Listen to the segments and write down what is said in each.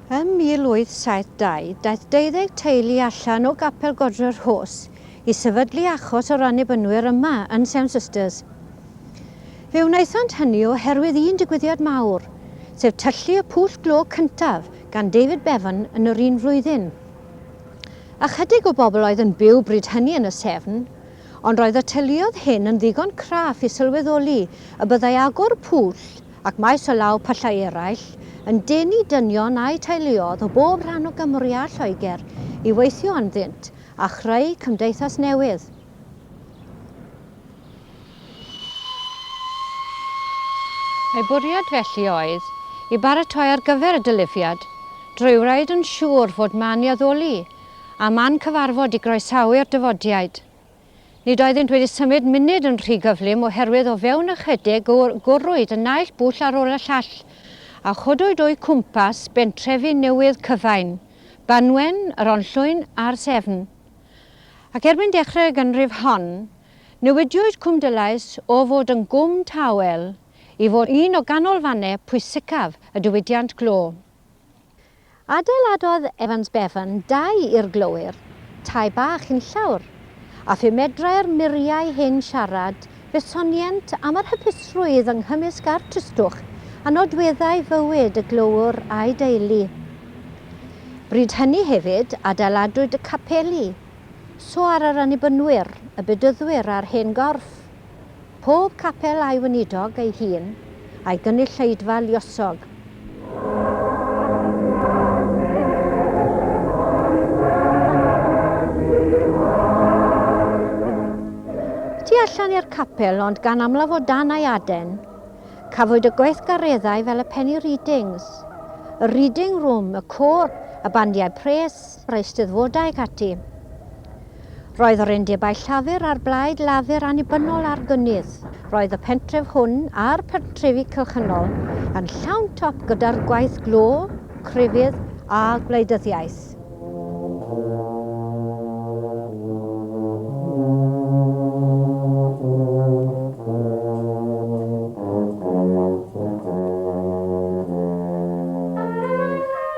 Ym 1872, daeth deuddeg teulu allan o Gapel Godre'r Rhos i sefydlu achos o'r Annibynwyr yma yn Sewn Sisters. Fe wnaethant hynny oherwydd un digwyddiad mawr, sef tyllu y pwll glo cyntaf gan David Bevan yn yr un flwyddyn. Ychydig o bobl oedd yn byw bryd hynny yn y Severn, ond roedd y teuluoedd hyn yn ddigon craff i sylweddoli y byddai agor pwll ac maes o law pyllau eraill yn denu dynion a'u teuluoedd o bob rhan o Gymru a Lloegr i weithio ynddynt a chreu cymdeithas newydd. Ei bwriad felly oedd i baratoi ar gyfer y dilyfiad, drwy wraed yn siŵr fod man i addoli a man cyfarfod i groesawu'r dyfodiaid. Nid oeddynt wedi symud munud yn rhy gyflym oherwydd o fewn ychydig gwrwyd y naill bwll ar ôl y llall a chodwyd o'u cwmpas bentrefi newydd Cyfain, Banwen, yr Onllwyn a'r Sefn. Ac erbyn dechrau'r ganrif hon, Newidiwyd Cwm Dulais o fod yn gwm tawel i fod un o ganolfannau pwysicaf y diwydiant glo. Adeiladodd Evans Bevan dai i'r glowyr, tai bach unllawr, a phi medrai'r muriau hyn siarad fe sonient am yr hapusrwydd yng nghymysg a'r tristwch a nodweddai fywyd y glowr a'i deulu. Bryd hynny hefyd adeiladwyd y capeli So ar yr Annibynwyr, y Bedyddwyr a'r Hen Gorff, pob capel a'i weinidog ei hun, a'i gynulleidfa luosog. Tu allan i'r capel, ond gan amlaf o dan ei aden, cafwyd y gweithgareddau fel y penny readings, y reading room, y côr, y bandiau pres, yr Eisteddfodau ac ati. Roedd yr undebau Llafur a'r Blaid Lafur annibynnol ar gynnydd. Roedd y pentref hwn a'r pentrefi cylchynol yn llawn top gyda'r gwaith glo, crefydd a gwleidyddiaeth.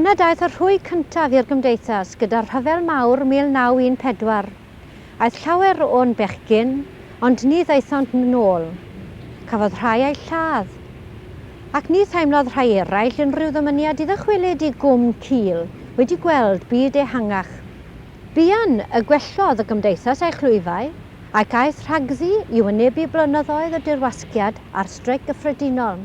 Yna daeth y rhwy cyntaf i'r Gymdeithas gyda'r Rhyfel Mawr 1914. Aeth llawer o'n bechgyn, ond ni ddaethont 'nôl. Cafodd rhai eu lladd. Ac ni theimlodd rhai eraill unrhyw ddymuniad i ddychwelyd i Gwm Cul, wedi gweld byd ehangach. Buan y gwellodd y gymdeithas ei chlwyfau, ac aeth rhagddi i wynebu blynyddoedd o dirwasgiad a'r Streic Gyffredinol.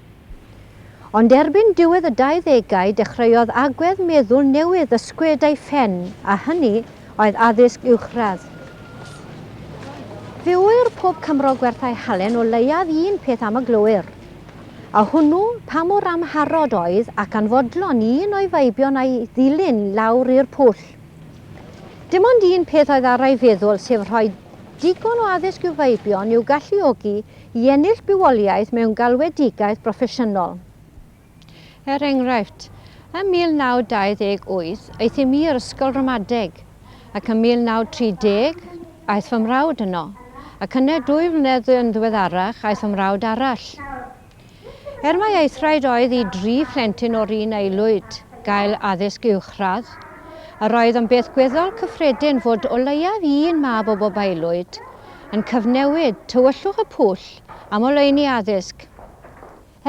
Ond erbyn diwedd y dauddegau dechreuodd agwedd meddwl newydd ysgwyd ei phen, a hynny oedd addysg uwchradd. Fe ŵyr pob Cymro gwerthau halen o leiaf un peth am y glowyr, a hwnnw pa mor amharod oedd ac anfodlon i un o'i feibion a'i ddilyn lawr i'r pwll. Dim ond un peth oedd ar ei feddwl, sef rhoi digon o addysg i'w feibion i'w galluogi i ennill bywoliaeth mewn galwedigaeth broffesiynol. Er enghraifft, ym 1928 aethum i i'r ysgol ramadeg, ac ym 1930 aeth fy mrawd yno, ac yna dwy flynedd yn ddiweddarach aeth fy mrawd arall. Er mai aethraid oedd i dri phlentyn o'r un aelwyd gael addysg uwchradd, yr oedd yn beth gweddol cyffredin fod o leiaf un mab o bob aelwyd yn cyfnewid tywyllwch y pwll am oleuni addysg.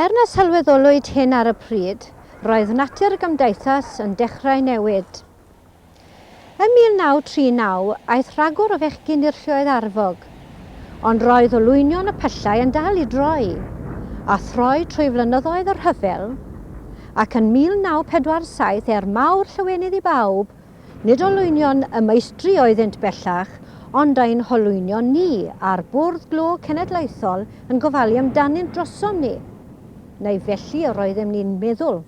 Er na sylweddolwyd hyn ar y pryd, roedd natur y gymdeithas yn dechrau newid. Ym 1939 aeth rhagor o fechgyn i'r Lluoedd Arfog, ond roedd olwynion y pyllau yn dal i droi a throi trwy flynyddoedd y rhyfel, ac yn 1947, er mawr llawenydd i bawb, nid olwynion y meistri oeddynt bellach, ond ein holwynion ni, a'r Bwrdd Glo Cenedlaethol yn gofalu amdanynt drosom ni, neu felly yr oeddem ni'n meddwl.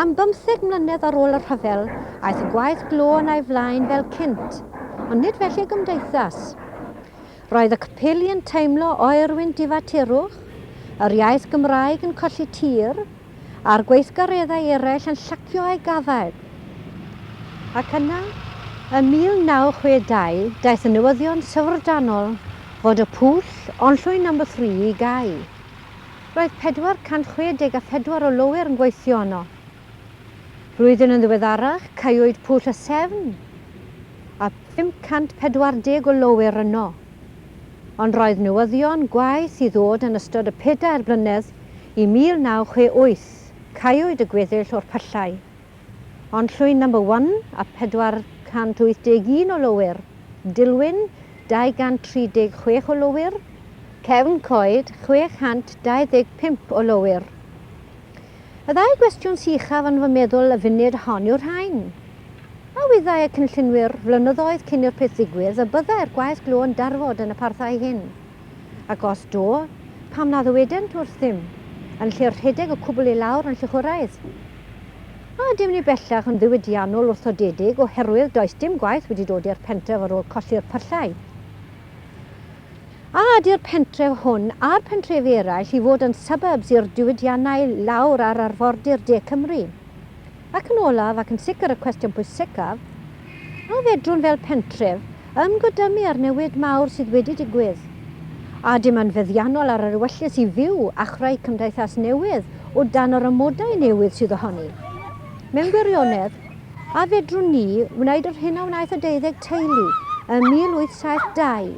Am bymtheg mlynedd ar ôl y rhyfel, aeth y gwaith glo yn ei flaen fel cynt, ond nid felly y gymdeithas. Roedd y capeli yn teimlo oerwyn difaterwch, yr iaith Gymraeg yn colli tir, a'r gweithgareddau eraill yn llacio eu gafael. Ac yna, ym 1962, daeth y newyddion syfrdanol fod y pwll, Onllwyn No. 3, i gau. Roedd 464 o lowyr yn gweithio yno. Blwyddyn yn ddiweddarach, caewyd Pwll y Sefn, a 540 o lowyr yno. Ond roedd newyddion gwaeth i ddod yn ystod y pedair blynedd i 1968, caewyd y gweddill o'r pyllau. Ond llwyn number one a 481 o lowyr, Dilwyn, 236 o lowyr, Cefn Coed, 625 o lowyr. Y ddau gwestiwn sychaf yn fy meddwl y funud hon yw'r rhain. A wyddai y cynllunwyr flynyddoedd cyn i'r peth ddigwydd y byddai'r gwaith glo yn darfod yn y parthau hyn? Ac os do, pam na ddywedent wrthym, yn lle rhedeg y cwbl i lawr yn llychwraidd? A ydym ni bellach yn ddiwydiannol wrthodedig oherwydd does dim gwaith wedi dod i'r pentref ar ôl colli'r pyllau? A ydy'r pentref hwn a'r pentrefi eraill i fod yn suburbs i'r diwydiannau lawr ar arfordir De Cymru? Ac yn olaf, ac yn sicr y cwestiwn pwysicaf, a fedrwn fel pentref ymgodymu â'r newid mawr sydd wedi digwydd, a dim yn feddiannol ar yr ewyllys i fyw a chreu cymdeithas newydd o dan yr amodau newydd sydd ohoni? Mewn gwirionedd, a fedrwn ni wneud yr hyn a wnaeth y deuddeg teulu ym 1872,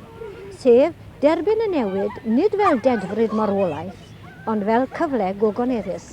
sef derbyn y newid nid fel dedfryd marwolaeth, ond fel cyfle gogoneddus?